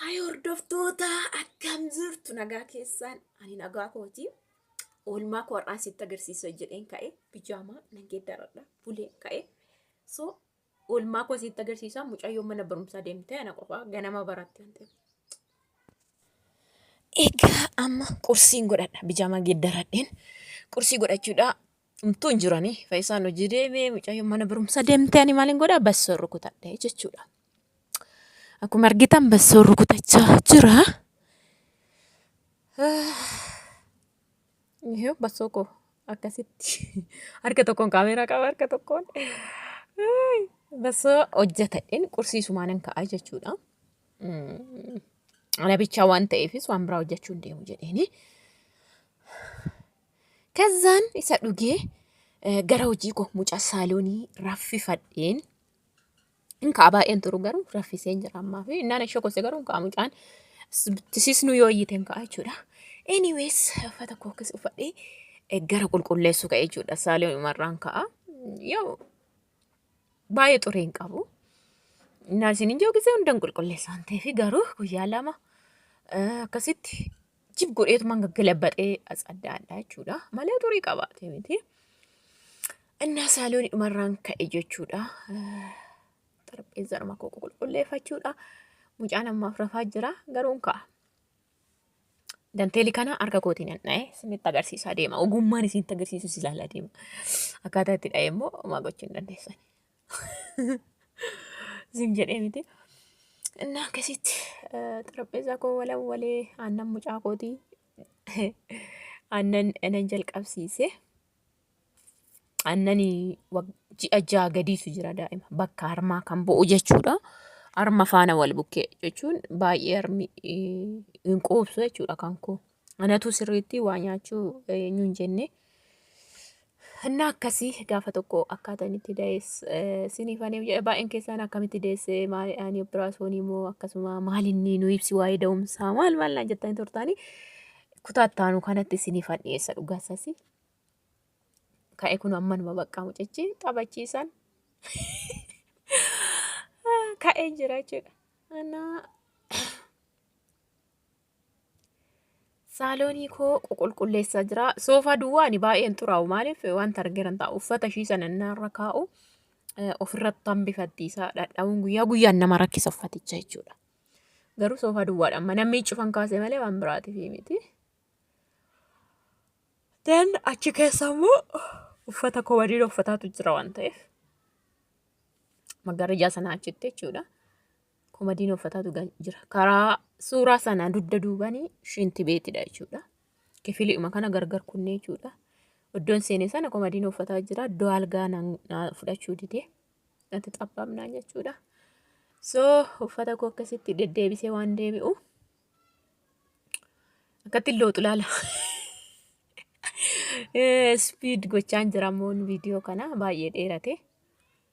Hay hordoftoota akkam jirtu nagaa keessaan ani nagaa kooti. Oolmaa koo har'aan sitti agarsiisa jedheen ka'e bijaamaa nan geeddaradha bulee ka'e. So oolmaa koo sitti agarsiisa mucayyoo mana barumsaa deemte ana qofaa ganama baratti waan ta'eef. Egaa amma qursiin godhadha bijaamaa geeddaradheen qursii godhachuudha Dhumtuu hin jiranii. Faayisaan hojii deemee mucayyoo mana barumsa deemtee ani maaliin godhaa bassoo rukutadhee jechuudha. Akkuma argitan bassoo rukutachaa jira. Yoo bassoo koo akkasitti harka tokkoon kaameeraa qaba harka tokkoon bassoo hojjetadheen qursiisumaan hin ka'aa jechuudha. Ana bichaa waan ta'eefis waan biraa hojjechuu hin deemu jedheeni. Kazzaan isa dhugee gara hojii koo mucaa saaloonii raffifadheen hin ka'a baay'een turu garuu raffiseen jira ammaa fi innaan ishee kose garuu hin ka'a mucaan tisisnu yoo iyyite hin ka'a jechuudha. Anyways uffata koo keessa uffadhee gara qulqulleessuu ka'e jechuudha saaloon umarraan ka'a. Yoo baay'ee xuree hin qabu. Innaan isin hin joogisee hundan qulqulleessaan ta'eefi garuu guyyaa lama akkasitti jib godheetumaan gaggalabaxee as adda addaa jechuudha. Malee turii qabaate miti. Innaa saalooni dhumarraan ka'e jechuudha. Xarapheezaa dhuma koo qulqulleeffachuudha. Mucaan ammaaf rafaa jira garuu hin ka'a. Danteeli kana harka kootiin hin dha'e isinitti agarsiisaa deema. Ogummaan isinitti agarsiisu si ilaala deema. Akkaataa itti dha'e immoo homaa gochuu hin dandeessan. Zim jedhee miti. Innaa akkasitti xarapheessaa koo walawwalee aannan mucaa kootii aannan nan jalqabsiise. Aannan ji'a ja'a gadiitu jira daa'ima bakka harmaa kan bu'u jechuudha. Harma faana wal bukkee jechuun baay'ee harmi hin quubsu jechuudha kan koo. Anatu sirriitti waa nyaachuu eenyu hin jenne. Inni akkasii gaafa tokko akkaataan itti da'es siniif ani baay'een keessaan akkamitti deesse maali ani operaasyoonii moo akkasuma maal inni nu ibsi waa'ee da'umsaa maal maal naan jettanii turtaanii kutaa itti aanu kanatti siniif an dhiyeessa dhugaa isasi. Ka'e kun amma numa baqqaa mucichi taphachiisan ka'ee jira jechuudha. Anaa Saaloonii koo ququlqulleessaa jira. Soofaa duwwaa ani baay'een xuraa'u maaliif wanta argeeran ta'a uffata ishii sana irra kaa'u ofirratti hambifatti isaa dhadha'uun guyyaa guyyaan nama rakkisa uffaticha jechuudha. Garuu soofaa duwwaadhaan mana miicufan kaase malee waan biraatiif miti. Dan achi keessa immoo uffata koo waliin uffataatu jira waan ta'eef magariisaa sana achitti jechuudha. Komadiin uffataatu gan- jira. Karaa suuraa sana dugda duubanii shinti beetidha jechuudha. Kifiliidhuma kana gargar kunnee jechuudha. Iddoon seenee sana komadiin uffataa jira. Iddoo algaa na na fudhachuu didee natti xabbamnaan jechuudha. So uffata koo akkasitti deddeebisee waan deebi'u akkatti looxu laala. Speed gochaan jira ammoo viidiyoo kana baay'ee dheerate.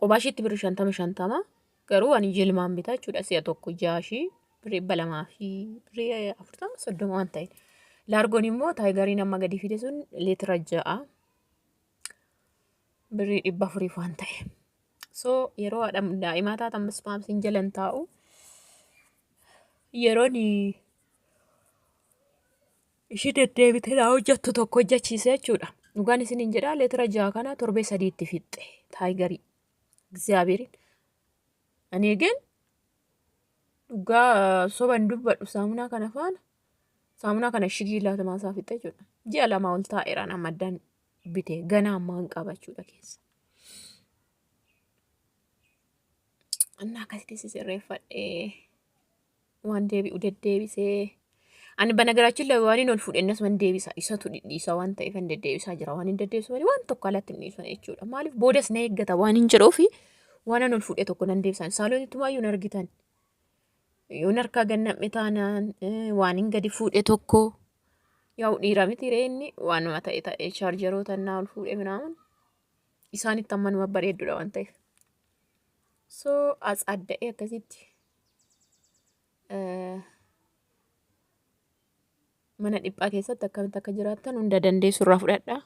Kophaa ishiitti birri shantama shantama garuu ani jilmaan bitaa jechuudha si'a tokko ja'a ishii birri dhibba lamaa fi birri afurtama soddoma waan ta'e. Laargoon immoo taayigariin amma gadi fide sun leetira ja'a birri dhibba afuriif waan ta'e. So yeroo haadha daa'imaa taatan ispaamsiin jalan taa'u yeroon ishii deddeebitee naa hojjattu tokko hojjachiise jechuudha. Dhugaan isiniin jedhaa leetira ja'a kana torbee sadiitti fixxe taayigarii Egzaabeeriin. Ani eegeen dhugaa soban dubbadhu saamunaa kana faana saamunaa kana shigii laatamaa isaa fixxe jechuudha. Ji'a lamaa ol taa'eeraan amma addaan bite ganaa ammaan qaba jechuudha keessa. Annaa akkasitti sisirreeffadhee. waan deebi'u deddeebisee ani banagaraachin labe waan hin ol fuudhennas man deebisa isatu dhidhiisa waan ta'eef hin deddeebisaa jira waan hin deddeebisu malee waan tokko alatti hin dhiisan jechuudha maaliif boodas na eeggata waan hin jedhuufi waan an ol fuudhe tokko nan deebisa saaloon ittumaa yoo argitan yoon harkaa gannam'e taanaan eh, waan hin gadi fuudhe tokko yaa'u dhiira miti ree inni waanuma ta'e ta'e chaarjaroota innaa ol fuudhe minaamun isaanitti ammanuma bareeddudha waan ta'eef so as adda'ee akkasitti mana dhiphaa keessatti akkamitti akka jiraattan hunda dandeessu irraa fudhadha.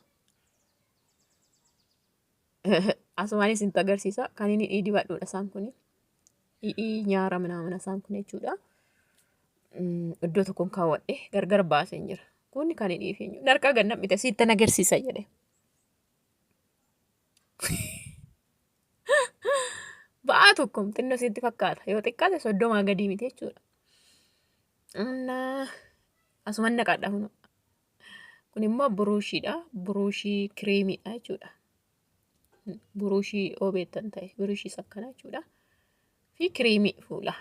Asumaanis itti agarsiisa. Kan inni dhiidhi baadhuudha isaan kun. Dhiidhii nyaara minaamina isaan kun jechuudha. Iddoo tokkoon kaawwadhe gargar baaseen jira. Kun kan inni dhiifeenyu. Narqaa gannab mite siitti agarsiisa jedhe. Ba'aa tokko xinnoo sitti fakkaata. Yoo xiqqaate soddomaa gadii miti jechuudha. Annaa asuman naqadha kun. Kun immoo buruushiidha. Buruushii kireemiidha jechuudha. Buruushii yoo beektan ta'e buruushii akkanaa jechuudha. Fi kireemii fuulaa.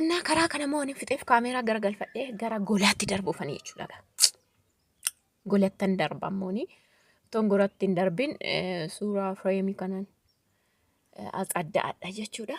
Annaa karaa kana moo ani fixeef kaameeraa garagalfadhee gara golaatti darbuufanii jechuudha. golattan darba ammooni ton goratti hin darbin suuraa fireemii kanan as adda adda jechuudha.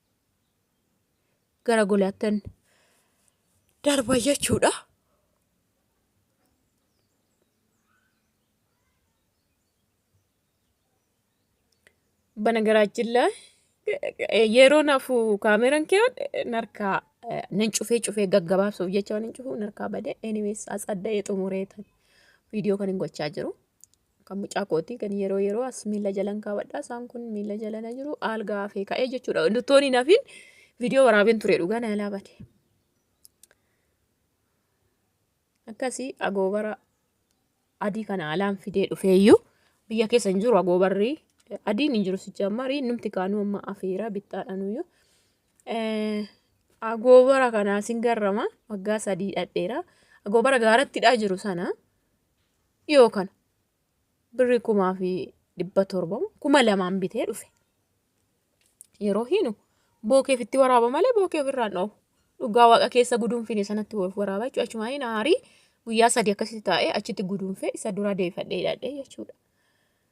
gara golaattan darba jechuudha. Banagaraachin la yeroo nafu kaameran kee narkaa nan cufee cufee gaggabaabsuuf jecha waan hin cufu narkaa bade anyways as adda'ee xumureetan viidiyoo kan hin gochaa jiru. Kan mucaa kooti kan yeroo yeroo as miila jalan kaawwadha. Isaan kun miila jalana jiru aalgaa hafee ka'ee jechuudha. Luttoon hin hafin viidiyoo waraabeen ture dhugaa na jalaa bade. Akkasii agoobara adii kana alaan fidee dhufeeyyuu biyya keessa hin jiru agoobarri adiin hin jiru sicha marii numti kaanuu amma afeera bittaadhanuyyuu. Agoobara kanaa sin garrama waggaa sadii dhadheera. Agoobara gaarattidhaa jiru sana. dhiyoo kana birrii kumaa fi dhibba torba kuma lamaan bitee dhufe. Yeroo hiinu bookeef itti waraaba malee bookee ofirraan dhoobu. Dhugaa waaqa keessa guduunfine sanatti wal waraaba jechuudha. Achumaan hin aarii guyyaa sadii akkasitti taa'ee achitti guduunfee isa duraa deebifadhee hidhadhee jechuudha.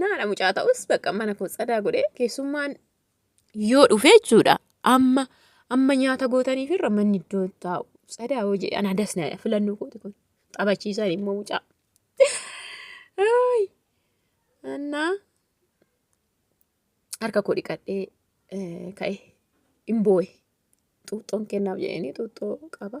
naadha mucaa ta'us bakka mana koo tsadaa godhee keessummaan yoo dhufe jechuudha amma amma nyaata gootaniif irra manni iddoo taa'u tsadaa yoo jedhe anaa das naadha filannoo kooti kun taphachiisan immoo mucaa. Annaa harka koo dhiqadhee ka'e hin boo'e xuuxxoon kennaaf jedhanii xuuxxoo qaba.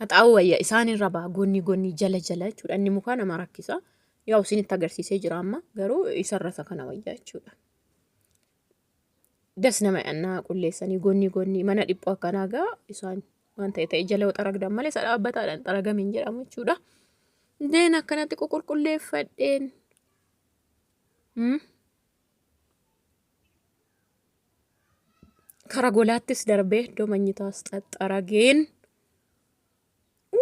haxaa'uu wayya isaan irra ba'a goonni goonni jala jala jechuudha inni mukaa nama rakkisa yaa isinitti agarsiisee jira amma garuu isarra isa kana wayyaa jechuudha. das nama annaa qulleessanii gonni gonni mana dhiphoo akkanaa gaa isaan waan ta'e ta'e jala xaragdan malee isa dhaabbataadhaan xaragame hin jedhamu jechuudha. Deen akkanatti qulqulleeffadheen. Kara golaattis darbee iddoo manyitaas xaxxarageen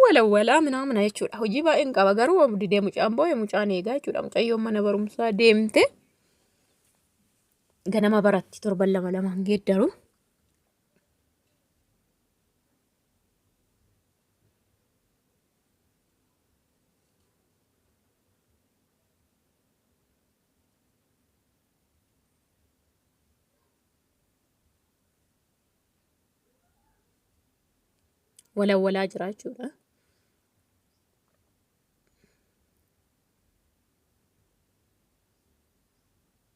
walawwalaa minaamina jechuudha. Hojii baay'een qaba garuu obdi deemu caamboo mucaan eegaa jechuudha. Mucayyoon mana barumsaa deemte. ganama baratti torban lama lamaan geeddaru. walawalaa jira jechuudha.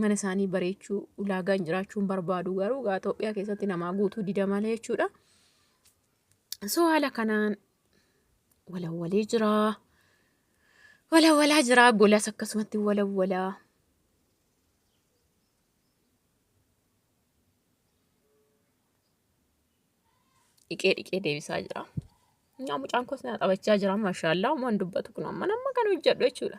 mana isaanii bareechuu ulaagaan jiraachuun barbaadu garuu gaa Itoophiyaa keessatti namaa guutuu dida malee jechuudha. So haala kanaan walawwalee jiraa. Walawwalaa jiraa golas akkasumatti walawwalaa. Dhiqee dhiqee deebisaa jira. Nyaa mucaan koos na taphachaa jira maashaallah waan dubbatu kun amma nama kan hojjedhu jechuudha.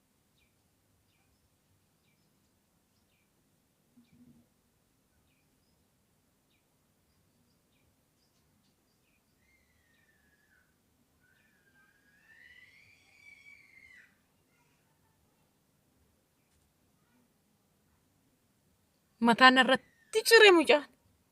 Mataan irratti cire mucaan.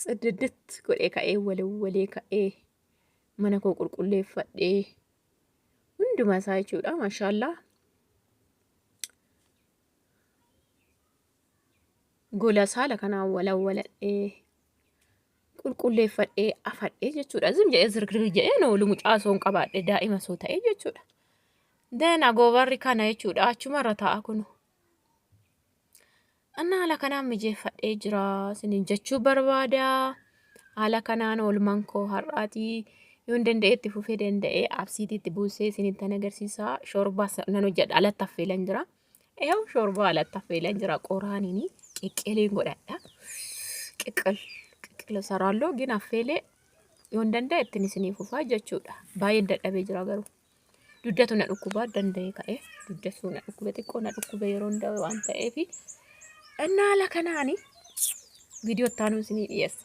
Tsiddidditt godhee ka'ee walawwalee ka'ee mana koo qulqulleeffadhee hunduma isaa jechuudha mashaallaa gola saala kanaan walawwaladhee qulqulleeffadhee afadhee jechuudha zim jedhee zirgir jedhee na oolu mucaa osoo hin qabaadhe daa'ima osoo ta'e jechuudha. Deen agoobarri kana jechuudha achumarra taa'a kunu. Anna haala kanaan mijeeffadhee jira sinin jechuu barbaada. Haala kanaan oolmaan koo har'aatii yoon danda'etti fufee danda'ee absiitiitti buusee sinittan agarsiisa. Shoorbaa nan hojjedha alatti affeelan jira. Eew shoorbaa alatti affeelan jira qoraaniin qeqqeeleen godhadha. Qeqqel qeqqel saraallo gin affeelee yoon danda'etti isinii fufaa jechuudha. Baay'een dadhabee jira garuu. Duddatu na dhukkuba danda'ee ka'e duddatu na dhukkube xiqqoo na dhukkube yeroo hunda waan ta'eef dhannaa ala kanaani viidiyoo itti aanuu isinii dhiyeessa.